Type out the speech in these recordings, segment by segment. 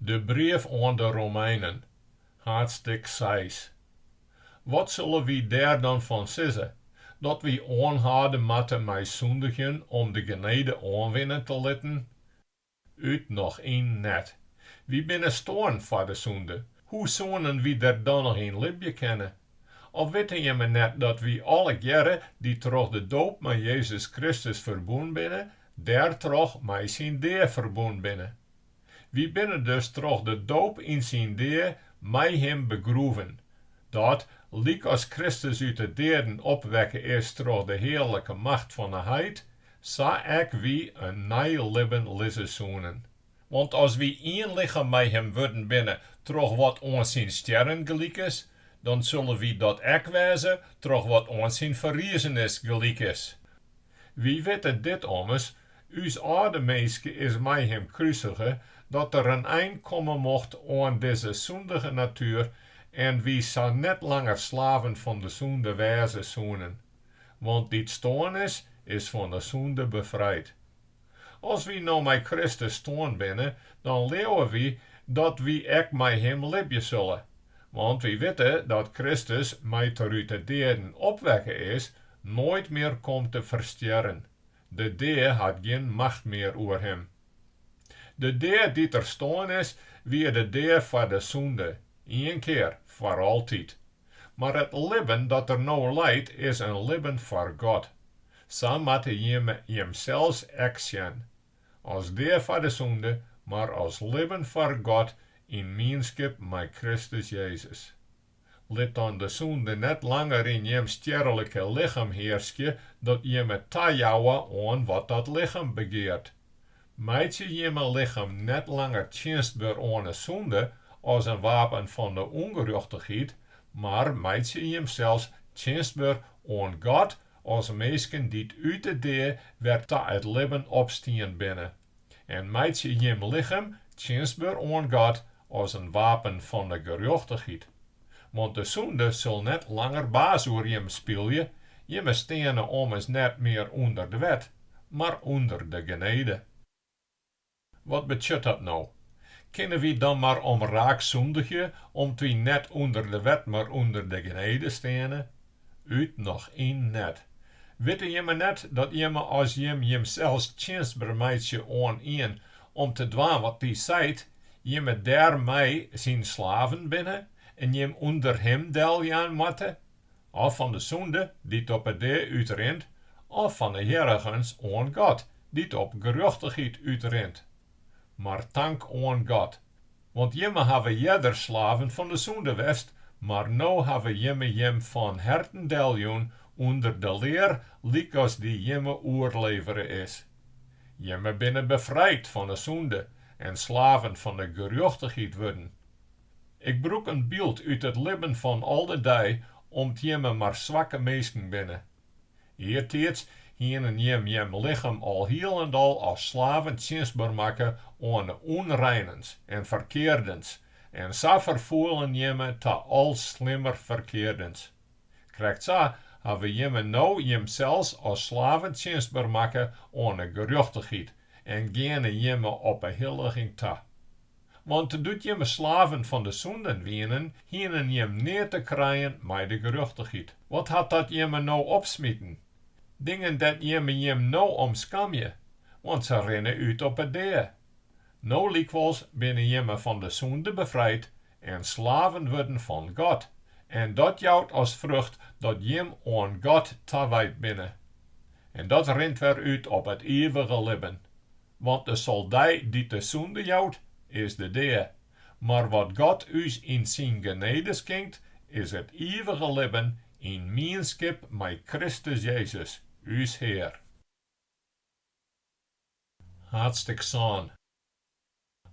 De brief oan de Romeinen, haadstik seis. Wat sille wy dêr dan fan sizze? Dat wy oanhâlde moatte mei sûndigjen om de genede oanwinne te litten? Ut noch yn net. Wy binne stoarn foar de sûnde. Hoe soenen wy der dan noch yn libje kinne? Of witte jimme net dat wy allegearre dy't troch de doop mei Jezus Kristus ferbûn binne, dêrtroch mei syn dea ferbûn binne? Wy binne dus troch de doop yn syn dea mei him begroeven, dat, lykas Kristus út 'e deaden opwekke is troch de hearlike macht fan 'e Heit, sa ek wy in nij libben liede soenen. Want as wy ien lichem mei him wurden binne troch wat oan syn stjerren gelyk is, dan sulle wy dat ek wêze troch wat oan syn ferriezenis gelyk is. Wy witte dit ommers, ús âlde minske is mei him krusige, dat der in ein komme mocht oan dizze sûndige natuer en wy sa net langer slaven fan de sûnde wêze soenen. Want dy't stoarn is, is fan de sûnde befrijd. As wy no mei Kristus stoarn binne, dan leauwe wy dat wy ek mei Him libje sulle. Want wy witte dat Kristus, mei't Er út 'e deaden opwekke is, noait mear komt te ferstjerren. De dea hat gjin macht mear oer Him. De dea dy't Er stoarn is, wie de dea foar de sûnde, ien kear foar altyd. Mar it libben dat Er no liedt is in libben foar God. Sa moatte jimme jimsels ek sjen, as dea foar de sûnde, mar as libben foar God yn mienskip mei Kristus Jezus. Lit dan de sûnde net langer yn jim stjerlike lichem hearskje, dat jimme tajouwe oan wat dat lichem begeart. Meitsje jimme lichem net langer tsjinstber oan 'e sûnde as in wapen fan 'e ûngerjochtichheid, mar meitsje jimsels tsjinstber oan God as minsken dy't út de dea wer ta it libben opstien binne. En meitsje jim lichem tsjinstber oan God as in wapen fan de gerjochtichheid, want de sûnde sil net langer baas oer jimme spylje, jimme steane ommers net mear ûnder de wet, mar ûnder de genede. Wat betsjut dat no? Kinne wy dan mar om raak sûndigje, om't wy net ûnder de wet mar ûnder de genede steane? Ut noch yn net! Witte jimme net dat jimme as jim jimsels tsjinstber meitsje oan ien om te dwaan wat Dy seit, jimme dêr mei Syn slaven binne en jim ûnder Him deljaan moatte, of fan de sûnde dy't op 'e dea útrint, of fan 'e hearregens oan God dy't op gerjochtichheid útrint. Mar tank oan God. Want jimme hawwe earder slaven fan de sûnde west, mar no hawwe jimme jim fan herten deljûn ûnder de lear lykas dy jimme oerlevere is. Jimme binne befrijd fan 'e sûnde en slaven fan 'e gerjochtichheid wurden. Ik brûk in byld út it libben fan al de dei om't jimme mar swakke minsken binne. Eartiids hiene jim jim lichem alhielendal as slaven tsjinstber makke oan 'e ûnreinens en ferkeardens en sa ferfoelen jimme ta al slimmer ferkeardens. Krekt sa hawwe jimme no jimsels as slaven tsjinstber makke oan 'e gerjochtichheid en geane jimme op 'e hilliging ta. Want doe't jimme slaven fan de sûnden wienen, hienen jim neat te krijen mei de gerjochtichheid. Wat hat dat jimme no opsmiten? Dingen dêr't jimme jim no om skamje, want se rinne út op 'e dea. No lykwols binne jimme fan de sûnde befrijd en slaven wurden fan God, en dat jout as frucht dat jim oan God tawijd binne. En dat rint wer út op it ivige libben. Want de soldij dy't de sûnde jout, is de dea. Mar wat God ús yn syn genede skinkt, is it ivige libben yn mienskip mei Kristus Jezus, ús Hear. Haadstik sân.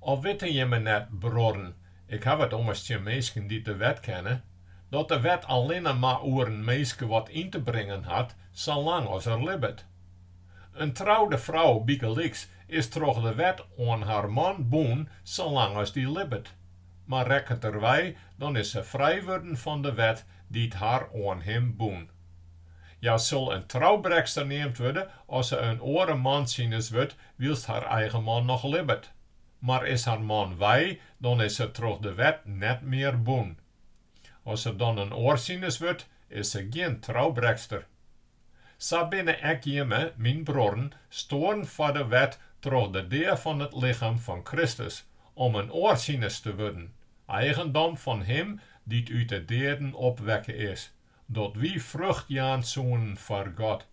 Of witte jimme net, bruorren, ik haw it ommers tsjin minsken dy't de wet kenne, dat de wet allinne mar oer in minske wat yn te bringen hat, salang as er libbet? In troude frou bygelyks is troch de wet oan har man bûn salang't as dy libbet. Mar rekket er wei, dan is se frij wurden fan de wet dy't har oan him bûn. Hja sil in troubrekster neamd wurde as se in oare man sines wurdt wylst har eigen man noch libbet. Mar is har man wei, dan is se troch de wet net mear bûn. As se dan in oar sines wurdt, is se gjin troubrekster. Sa binne ek jimme, myn bruorren, stoarn foar de wet troch de dea fan it lichem fan Kristus, om in oar sines te wurden, eigendom fan Him dy't út de deaden opwekke is, dat wy frucht jaan soenen foar God.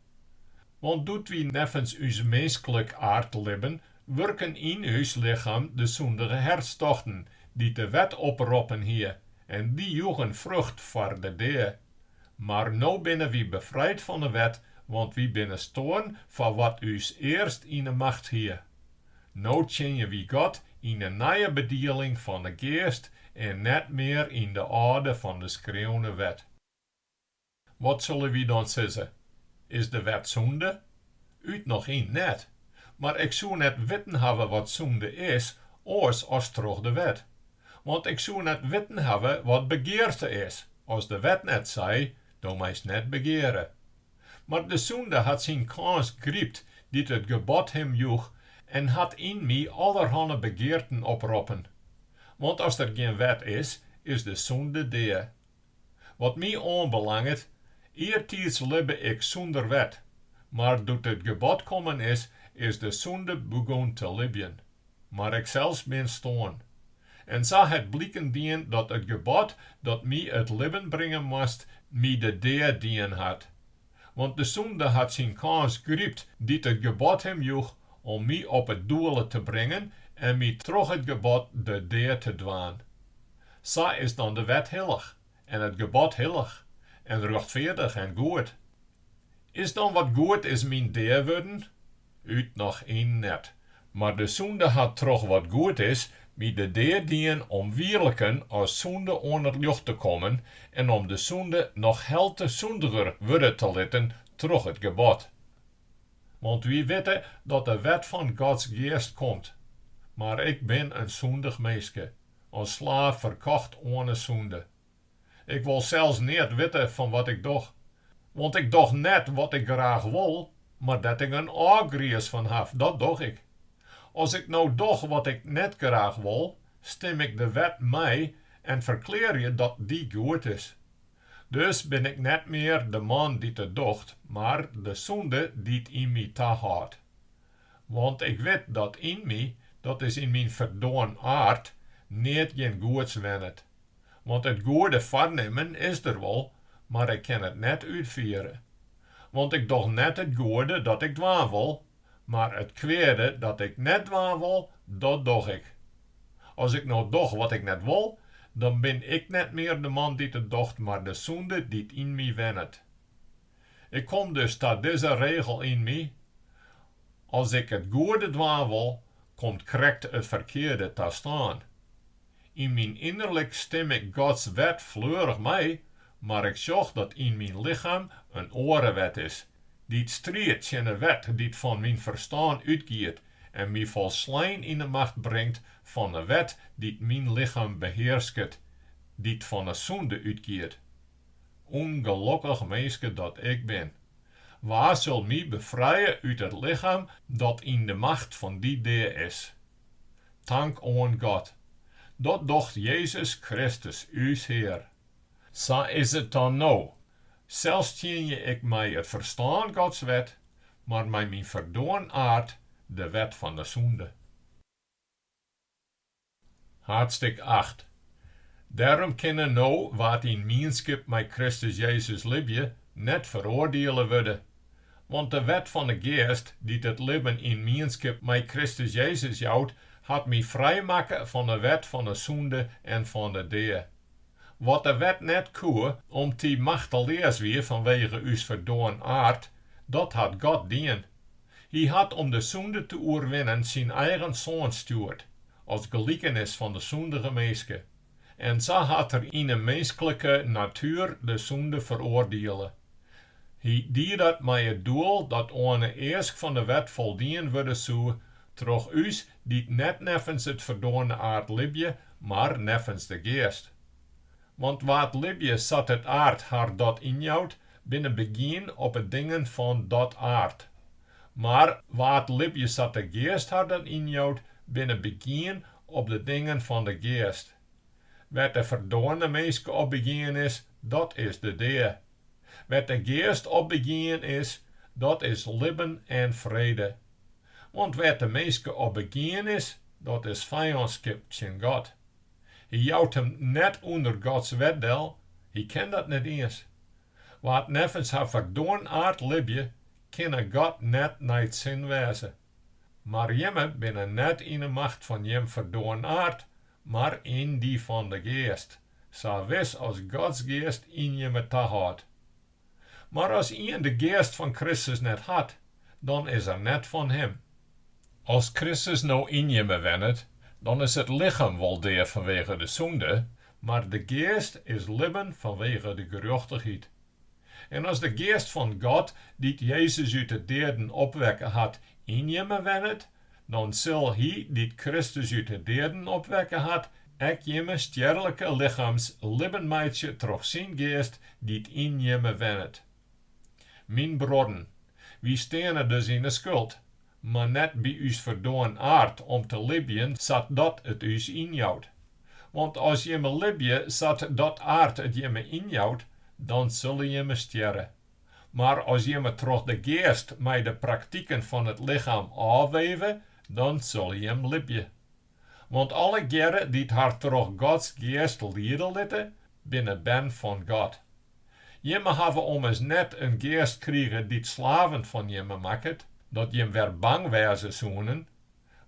Want doe't wy neffens ús minsklik aard libben, wurken yn ús lichem de sûndige hertstochten, dy't de wet oproppen hie, en dy joegen frucht foar de dea. Mar no binne wy befrijd fan 'e wet, want wy binne stoarn foar wat ús earst yn 'e macht hie. No tsjinje wy God yn 'e nije bedieling fan 'e Geast en net mear yn de âlde fan de skreaune wet. Wat sille wy dan sizze? Is de wet sûnde? Ut noch yn net, mar ik soe net witten hawwe wat sûnde is oars as troch de wet. Want ik soe net witten hawwe wat begearte is, as de wet net sei, Do meist net begeare. Mar de Sûnde hat syn kâns grypt dy't it gebod him joech en hat yn my allerhanne begearten oproppen. Want as der gjin wet is, is de Sûnde dea. Wat my oanbelanget, eartiids libbe ik sûnder wet, mar doe't it gebod kommen is, is de Sûnde begûn te libjen. Mar iksels bin stoarn. En sa hat bliken dien dat it gebod dat my it libben bringe moast, my de dea dien hat. Want de sûnde hat syn kâns grypt dy't it gebod him joech om my op it doele te bringen en my troch it gebod de dea te dwaan. Sa is dan de wet hillich, en it gebod hillich, en rjochtfeardich en goed. Is dan wat goed is myn dea wurden? Ut noch yn net. Mar de sûnde hat troch wat goed is my de dea dien om wierliken as sûnde oan it ljocht te kommen en om de sûnde noch helte sûndiger wurde te litten troch it gebod. Want wy witte dat de wet fan Gods Geast komt. Mar ik bin in sûndich minske, as slaaf ferkocht oan 'e sûnde. Ik wol sels neat witte fan wat ik doch. Want ik doch net wat ik graach wol, mar dêr't ik in ôfgriis fan haw, dat doch ik. As ik no doch wat ik net graach wol, stim ik de wet mei en ferklearje dat dy goed is. Dus bin ik net mear de man dy't it docht, mar de sûnde dy't yn my tahâldt. Want ik wit dat yn my, dat is yn myn ferdoarn aard, neat gjin goeds wennet. Want it goede foarnimmen is der wol, mar ik kin it net útfiere. Want ik doch net it goede dat ik dwaan wol, mar it kweade dat ik net dwaan wol, dat doch ik. As ik no doch wat ik net wol, dan bin ik net mear de man dy't it docht, mar de sûnde dy't yn my wennet. Ik kom dus ta dizze regel yn my, As ik it goede dwaan wol, komt krekt it ferkearde ta stân. Yn myn ynnerlik stim ik Gods wet fleurich mei, mar ik sjoch dat yn myn lichem in oare wet is, dy't striidt tsjin 'e wet dy't fan myn ferstân útgiet en my folslein yn 'e macht bringt fan 'e wet dy't myn lichem behearsket, dy't fan 'e sûnde útgiet. Ungelokkich minske dat ik bin, wa sil my befrije út it lichem dat yn de macht fan dy dea is? Tank oan God, dat docht Jezus Kristus ús Hear. Sa is it dan no, sels tsjinje ik mei it ferstân Gods wet, mar mei myn ferdoarn aard de wet fan de sûnde. Haadstik acht. Dêrom kinne no wa't yn mienskip mei Kristus Jezus libje, net feroardiele wurde. Want de wet fan 'e Geast, dy't it libben yn mienskip mei Kristus Jezus jout, hat my frijmakke fan 'e wet fan 'e sûnde en fan 'e dea. Wat de wet net koe, om't dy machteleas wie fanwege ús ferdoarn aard, dat hat God dien. Hy hat om de sûnde te oerwinnen syn eigen Soan stjoerd, as gelikenis fan de sûndige minske, en sa hat Er yn 'e minsklike natuer de sûnde feroardiele. Hy die dat mei it doel dat oan 'e eask fan 'e wet foldien wurde soe troch ús dy't net neffens it ferdoarne aard libje, mar neffens de Geast. Want wa't libje sa't it aard har dat ynjout, binne begien op 'e dingen fan dat aard. Mar wa't libje sa't de Geast har dat ynjout, binne begien op de dingen fan de Geast. Wêr't de ferdoarne minske op begien is, dat is de dea. Wêr't de Geast op begien is, dat is libben en frede. Want wêr't de minske op begien is, dat is fijânskip tsjin God. Hy jout him net ûnder Gods wet del, hy kin dat net iens. Wa't neffens har ferdoarn aard libje, kinne God net nei 't sin wêze. Mar jimme binne net yn 'e macht fan jim ferdoarn aard, mar yn dy fan 'e Geast, sa wis as Gods Geast yn jimme tahâldt. Mar as ien de Geast fan Kristus net hat, dan is er net fan Him. As Kristus no yn jimme wennet, dan is it lichem wol dea fanwege de sûnde, mar de geast is libben fanwege de gerjochtichheid. En as de Geast fan God, dy't Jezus út de deaden opwekke hat, yn jimme wennet, dan sil Hy dy't Kristus út 'e deaden opwekke hat, ek jimme stjerlike lichams libben meitsje troch syn Geast dy't yn jimme wennet. Myn bruorren, wy steane dus yn 'e skuld, mar net by ús ferdoarn aard om te libjen sa't dat it ús ynjout. Want as jimme libje sa't dat aard it jimme ynjout, dan sille jimme stjerre. Mar as jimme troch de geast mei de praktiken fan it lichem ôfweve, dan sille jim libje. Want allegearre dy't har troch Gods geast liede litte, binne bern fan God. Jimme hawwe ommers net in geast krige dy't slaven fan jimme makket, dat jim wer bang wêze soenen,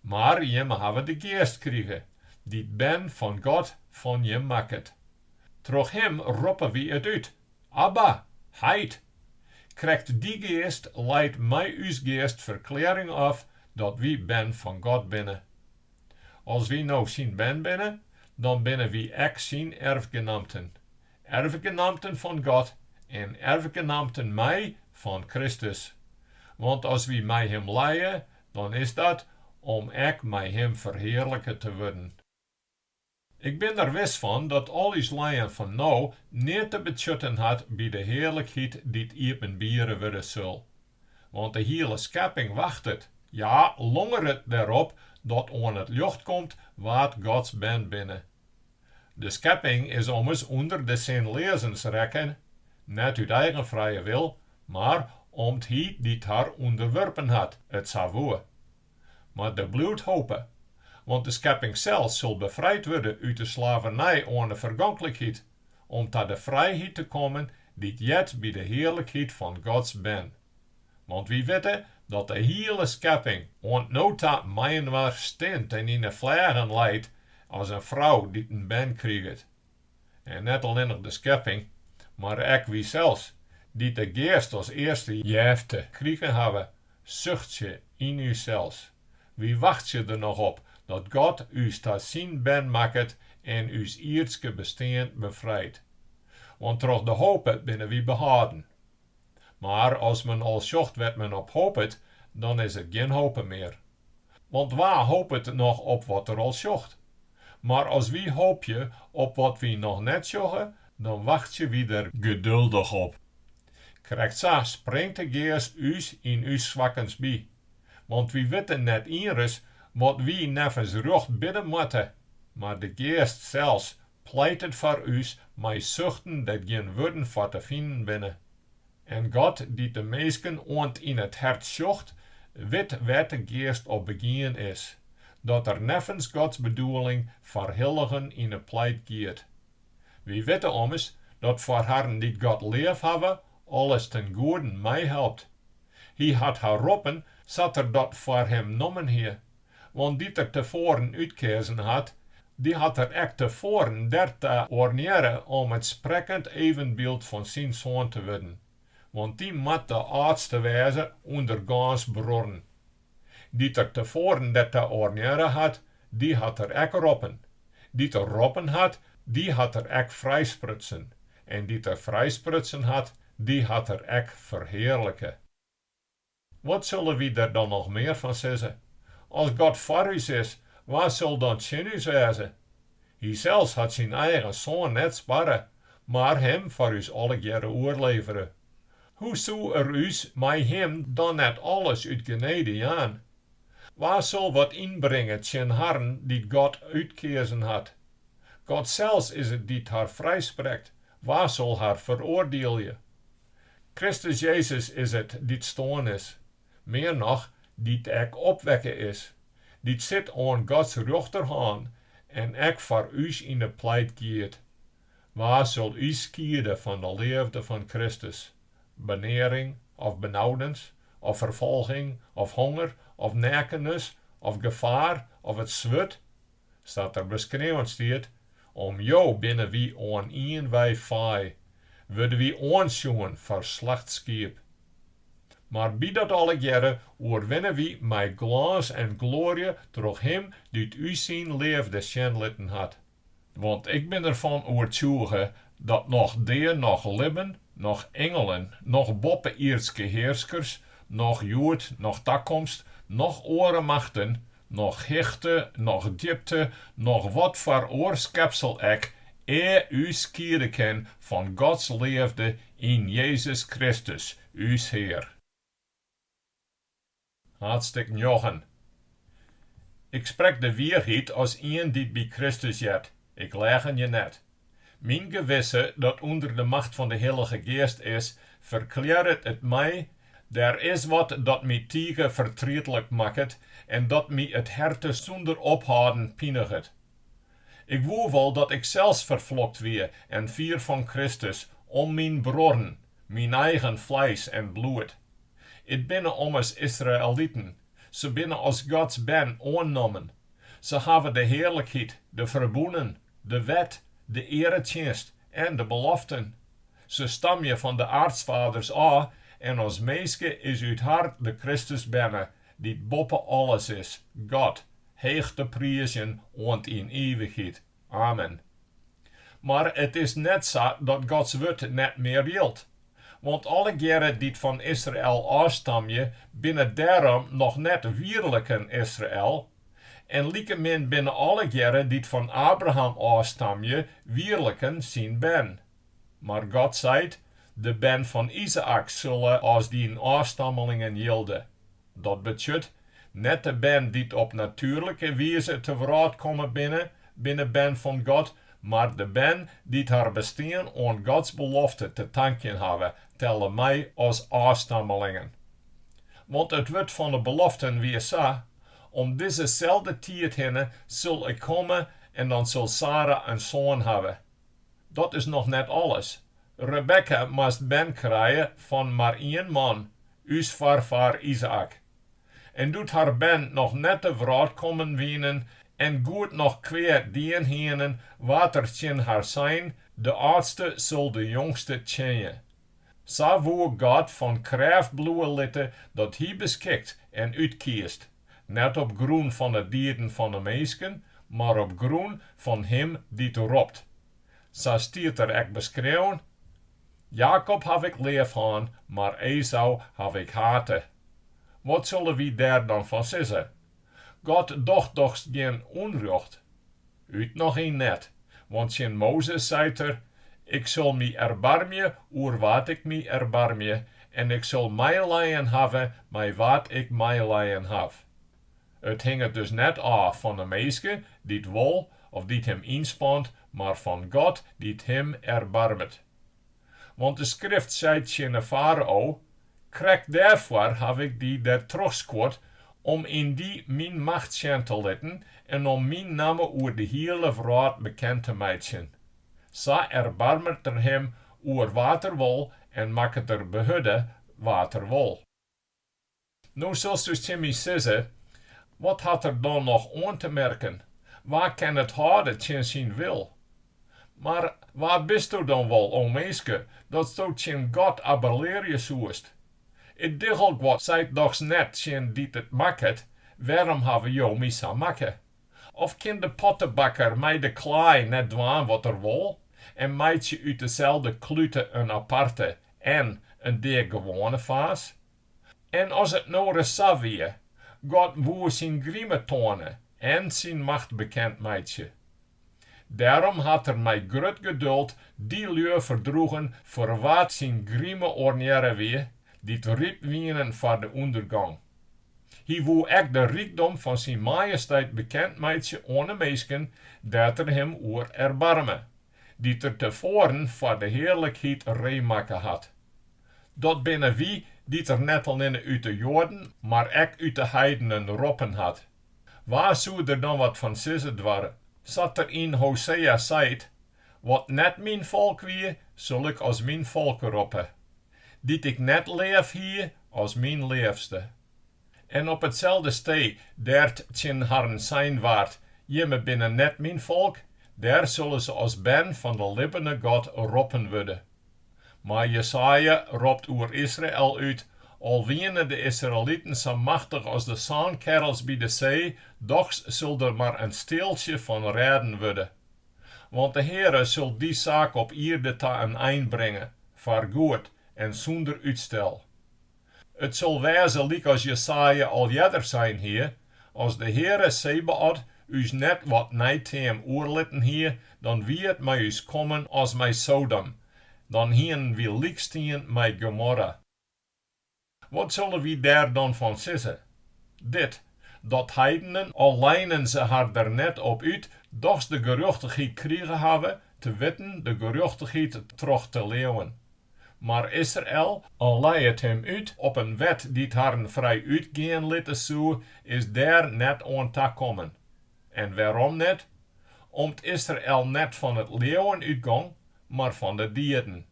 mar jimme hawwe de Geast krige, dy't bern fan God fan jim makket. Troch him roppe wy it út, Abba, heit! Krekt dy Geast leit mei ús geast ferklearring ôf dat wy bern fan God binne. As wy no syn bern binne, dan binne wy ek syn erfgenamten, erfgenamten fan God en erfgenamten mei fan Kristus. Want as wy mei him lije, dan is dat om ek mei him ferhearlike te wurden. Ik bin der wis fan dat al ús lijen fan no neat te betsjutten hat by de hearlikheid dy't iepenbiere wurde sil. Want de hiele skepping wachtet, ja, longeret dêrop dat oan it ljocht komt wa't Gods bern binne. De skepping is ommers ûnder de sinleazens rekken, net út eigen frije wil, mar om't Hy dy't har ûnderwurpen hat, it sa woe. Mar der bliuwt hope, want de skepping sels sil befrijd wurde út de slavernij oan 'e fergonklikheid, om ta de frijheid te kommen dy't heart by de hearlikheid fan Gods bern. Want wy witte dat de hiele skepping oant no ta mei-inoar stint en yn 'e fleagen leit as in frou dy't in bern kriget. En net allinnich de skepping, mar ek wysels, dy't de Geast as earste jefte krigen hawwe, suchtsje yn ússels. Wy wachtsje der noch op dat God ús ta syn bern makket en ús ierdske bestean befrijt. Want troch de hope binne wy behâlden. Mar as men al sjocht wêr't men op hopet, dan is it gjin hope mear. Want wa hopet noch op wat er al sjocht? Mar as wy hopje op wat wy noch net sjogge, dan wachtsje wy der geduldich op. Krekt sa springt de Geast ús yn ús swakkens by. Want wy witte net ienris wat wy neffens rjocht bidde moatte, mar de Geast sels pleitet foar ús mei suchten dêr't gjin wurden foar te finen binne. En God, dy't de minsken oant yn it hert sjocht, wit wêr't de geast op begien is, dat er neffens Gods bedoeling foar hilligen yn 'e pleit giet. Wy witte ommers dat foar harren dy't God leafhawwe, alles ten goeden meihelpt. Hy hat har roppen sa't er dat foar him nommen hie, Want dy't er te foaren útkeazen hat, dy hat er ek te foaren der ta oarnearre om it sprekkend evenbyld fan syn Soan te wurden, want dy moat de âldste wêze ûnder gâns bruorren. Dy't er te foaren der ta oarnearre hat, dy hat er ek roppen. Dy't er roppen hat, dy hat er ek frijsprutsen, en dy't er frijsprutsen hat, dy hat er ek ferhearlike. Wat sille wy der dan noch mear fan sizze? As God foar ús is, wa sil dan tsjin ús wêze? Hysels hat syn eigen Soan net sparre, mar Him foar ús allegearre oerlevere. Hoe soe Er ús mei Him dan net alles út genede jaan? Wa sil wat ynbringe tsjin harren dy't God útkeazen hat? God sels is it dy't har frijsprekt, wa sil har feroardielje? Kristus Jezus is it, dy't stoarn is, mear noch, dy't ek opwekke is, dy't sit oan Gods rjochterhân en ek foar ús yn 'e pleit giet. Wa sil ús skiede fan 'e leafde fan Kristus? Benearing, of benaudens, of ferfolging, of honger, of neakennis, of gefaar, of it swurd? sa't der beskreaun stiet, om jo binne wy oan ien wei faai, wurde wy oansjoen foar slachtskiep. Mar by dat allegearre oerwinne wy mei glâns en gloarje troch Him dy't ús syn leafde sjen litten hat. Want ik bin derfan oertsjûge dat noch dea noch libben, noch ingelen, noch boppe-ierdske hearskers, noch hjoed, noch takomst, noch oare machten, Noch hichte, noch djipte, noch wat foar oar skepsel ek, ús skiede kin fan Gods leafde yn Jezus Kristus, ús Hear. Haadstik njoggen. Ik sprek de wierheid as ien dy't by Kristus heart, Ik leagenje net. Myn gewisse, dat ûnder de macht fan de Hillige Geast is, ferklearret it my, Der is wat dat my tige fertrietlik makket en dat my it herte sûnder ophâlden piniget. Ik woe wol dat ik sels ferflokt wie en fier fan Kristus om myn bruorren, myn eigen fleis en bloed. It binne ommers Israeliten, Se binne as Gods bern oannommen. Se hawwe de hearlikheid, de ferbûnen, de wet, de earetsjinst en de beloften. Se stamje fan de aartsfaders ôf en as minske is út har de Kristus berne, dy't boppe alles is, God, heech te priizjen oant yn ivichheid. Amen. Mar it is net sa dat Gods wurd net mear jildt. Want allegearre dy't fan Israel ôfstamje, binne dêrom noch net wierliken Israel, en likemin binne allegearre dy't fan Abraham ôfstamje, wierliken syn bern. Mar God seit, De bern fan Izaäk sulle as dyn ôfstammelingen jilde. Dat betsjut, net de bern dy't op natuerlike wize te wrâld kommen binne, binne bern fan God, mar de bern dy't har bestien oan Gods belofte te tankjen hawwe, telle mei as ôfstammelingen. Want it wurd fan 'e beloften wie sa, Om dizeselde tiid hinne sil Ik komme en dan sil Sara in soan hawwe. Dat is noch net alles. Rebekka moast bern krije fan mar ien man, ús foarfaar Izaäk. En doe't har bern noch net te wrâld kommen wienen en goed noch kwea dien hienen, waard der tsjin har sein, De âldste sil de jongste tsjinje. Sa woe God fan krêft bliuwe litte dat Hy beskikt en útkiest, net op grûn fan 'e dieden fan 'e minsken, mar op grûn fan Him dy't ropt. Sa stiet der ek beskreaun, Jakob haw Ik leaf hân, mar Ezau haw Ik hate. Wat sille wy dêr dan fan sizze? God docht dochs gjin ûnrjocht? Ut noch yn net, want tsjin Mozes seit er, Ik sil my erbarmje oer wa't ik my erbarmje, en ik sil meilijen hawwe mei wa't ik meilijen haw. It hinget dus net ôf fan 'e minske, dy't wol of dy't him ynspant, mar fan God dy't him erbarmet. Want de Skrift seit tsjin de Farao, Krekt dêrfoar haw ik dy dertroch skuord, om yn dy myn macht sjen te litten en om myn namme oer de hiele wrâld bekend te meitsjen. Sa erbarmet er him oer wa't er wol en makket er behurde wa't er wol. No silsto tsjin my sizze, Wat hat er dan noch oan te merken? Wa kin it hâlde tsjin syn wil? Mar wa bisto dan wol, o minske, datsto tsjin God abbelearje soest? It diggelguod seit dochs net tsjin dy't it makket, Wêrom hawwe jo my sa makke? Of kin de pottebakker mei de klaai net dwaan wat er wol en meitsje út deselde klute in aparte en in deagewoane faas? En as it no ris sa wie, God woe syn grime toane en syn macht bekend meitsje. Dêrom hat er mei grut geduld dy lju ferdroegen foar wa't syn grime oarnearre wie, dy't ryp wienen foar de ûndergong. Hy woe ek de rykdom fan syn majesteit bekend meitsje oan de minsken, dêr't er him oer erbarme. dy't er tefoaren foar de hearlikheid reedmakke hat. Dat binne wy dy't er net allinne út de Joaden, mar ek út de heidenen roppen hat. Wa soe der dan wat fan sizze doarre, sa't er yn Hosea seit, Wat net myn folk wie, sil ik as myn folk roppe, dy't ik net leaf hie, as myn leafste. En op itselde stee dêr't tsjin harren sein waard, Jimme binne net myn folk, dêr sulle se as bern fan de libbene God roppen wurde. Mar Jesaja ropt oer Israel út, Al wiene de Israeliten sa machtich as de sânkerrels by de see, dochs sil der mar in stealtsje fan rêden wurde. Want de Heare sil dy saak op ierde ta in ein bringe, foar goed en sûnder útstel. It sil wêze lykas Jesaja al earder sein hie, As de Heare Sebaot ús net wat neiteam oerlitten hie, dan wie it mei ús kommen as mei Sodom, dan hienen wy lykstien mei Gomorra. Wat sille wy dêr dan fan sizze? Dit, dat heidenen, al leinen se har der net op út, dochs de gerjochtichheid krige hawwe, te witten de gerjochtichheid troch te leauwen. Mar Israel, al lei it him út op in wet dy't harren frij útgean litte soe, is dêr net oan ta kommen. En wêrom net? Om't Israel net fan it leauwen útgong, mar fan de dieden.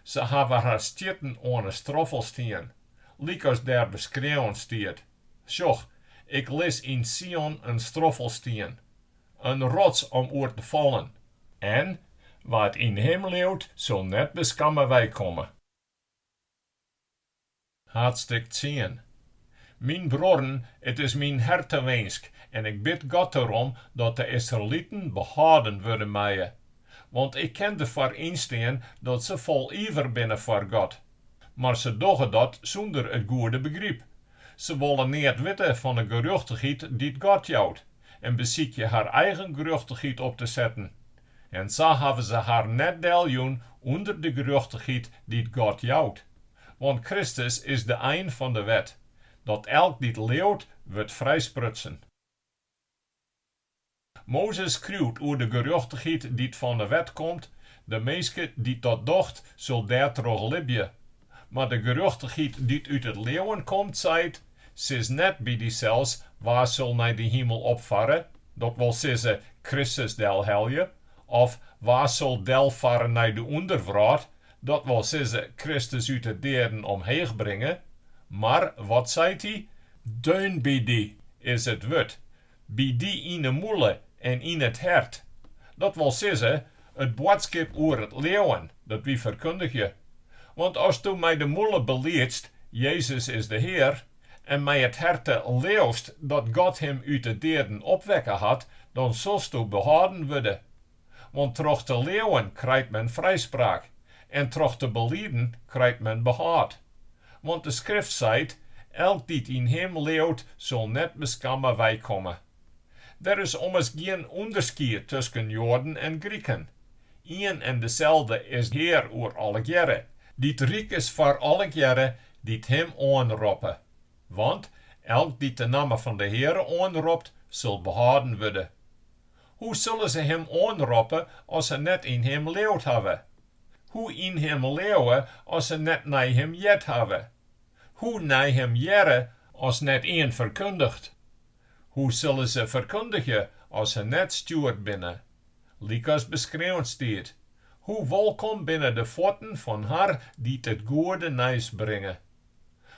Se hawwe har stjitten oan 'e stroffelstien, lykas der beskreaun stiet, Sjoch, ik lis yn Sion in stroffelstien, In rots om oer te fallen. En wa't yn Him leaut, sil net beskamme weikomme. Haadstik tsien. Myn bruorren, it is myn hertewinsk en ik bid God derom dat de Israeliten behâlden wurde meie, want ik kin derfoar ynstean dat se fol iver binne foar God, Mar se dogge dat sûnder it goede begryp. Se wolle neat witte fan 'e gerjochtichheid dy't God jout en besykje har eigen gerjochtichheid op te setten. En sa hawwe se har net deljûn ûnder de gerjochtichheid dy't God jout. Want Kristus is de ein fan de wet, dat elk dy't leauwt wurdt frijsprutsen. Mozes skriuwt oer de gerjochtichheid dy't fan 'e wet komt, de minske dy't dat docht, sil dêrtroch libje. Mar de gerjochtichheid dy't út it leauwen komt, seit, sis net by dysels, Wa sil nei de himel opfarre, dat wol sizze, Kristus delhelje, of Wa sil delfarre nei de ûnderwrâld, dat wol sizze, Kristus út 'e deaden omheech bringe? Mar, wat seit hy? Deunby dy is it wurd, By dy yn de mûle en yn it hert, dat wol sizze, it boadskip oer it leauwen, dat wy ferkundigje. Want asto mei de mûle beliedst, Jezus is de Hear, en mei it herte leauwst dat God him út de deaden opwekke hat, dan silsto behâlden wurde. Want troch te leauwen krijt men frijspraak, en troch te beliden krijt men behâld. Want de Skrift seit, Elk dy't yn him leauwt, sil net beskamme weikomme. Der is ommers gjin ûnderskied tusken Joaden en Griken. Ien en deselde is Hear oer allegearre, dy't ryk is foar allegearre dy't him oanroppe. Want elk dy't de namme fan de Heare oanropt, sil behâlden wurde. Hoe sulle se him oanroppe as se net yn him leaud hawwe? Hoe yn him leauwe as se net nei him heard hawwe? Hoe nei him hearre as net ien ferkundigt? Hoe sulle se ferkundigje as se net stjoerd binne? Lykas beskreaun stiet, Hoe wolkom binne de fuotten fan har dy't it goede nijs bringe!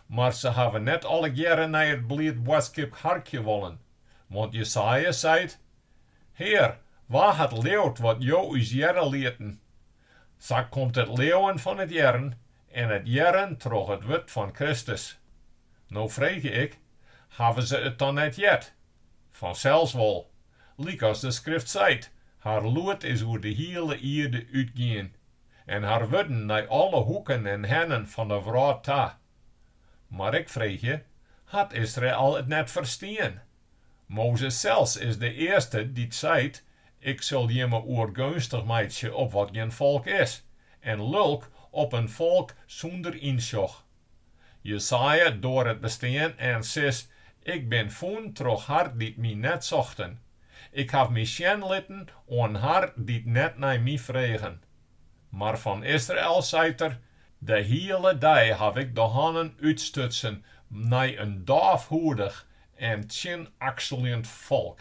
Mar se hawwe net allegearre nei it bliid boadskip harkje wollen. Want Jesaja seit, Hear, wa hat leaud wat Jo ús hearre lieten? Sa komt it leauwen fan it hearren en it hearren troch it wurd fan Kristus. No freegje ik, hawwe se it dan net heard? Fansels wol. Lykas de Skrift seit, Har lûd is oer de hiele ierde útgien, en har wurden nei alle hoeken en hennen fan de wrâld ta. Mar ik freegje, hat Israel it net ferstien? Mozes sels is de earste dy't seit, Ik sil jimme oergeunstich meitsje op wat gjin folk is, en lulk op in folk sûnder ynsjoch. Jesaja doar it bestean en sis, Ik bin fûn troch har dy't my net sochten. Ik haw my sjen litten oan har dy't net nei my fregen. Mar fan Israel seit er, De hiele dei haw ik de hannen útstutsen nei in dôfhoedich en tsjinakseljend folk.